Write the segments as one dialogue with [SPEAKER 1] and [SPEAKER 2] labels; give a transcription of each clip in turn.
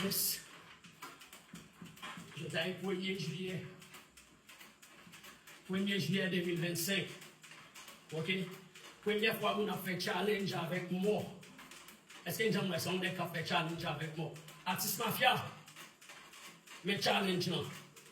[SPEAKER 1] Yes! Jodayy premye jiyè premye jiyè 2025 ok premyè fwa moun ap fè challenge avèk mò èske n janm wè sa yon nèg kap fè challenge avèk mò atis mafya men challenge lan.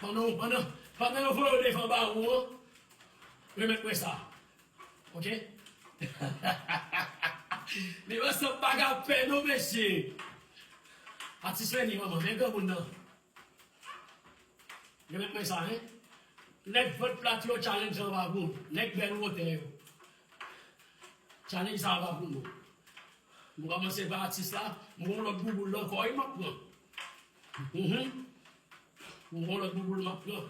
[SPEAKER 1] Pandan, pandan, pandan yo voye w devan bawo an, remèt mwen sa. Ok? Li pa sanble pa gen pè non mesye. Atis Lenny manman, men granmoun nan. Remèt mwen sa hein. Nèg vant plat yo challenge lan pa pou nou. Nèg bèl wotè yo. Challenge sa a pa pou nou. M kòmanse pa atis la, m gen yon lòt bouboul nan kò wi m ap pran. Uhmm m gon lòt bouboul map pran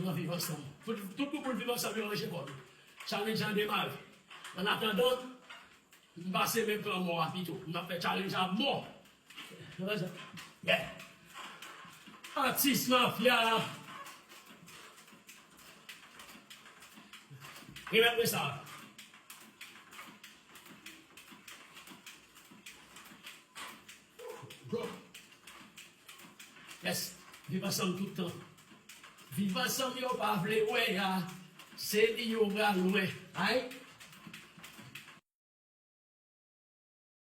[SPEAKER 1] nan viv ansanm tout bouboul viv ansanm yo ranje kò yo challenge an demare an atandan m pase men pran mò a pito m ap fè challenge a mò yeah atis mafya remèt mwen sa a. Gòm. Yes. Viv ansanm tout tan. Viv ansanm yo pa vle wè a. Se li yo pral wè. Ayy.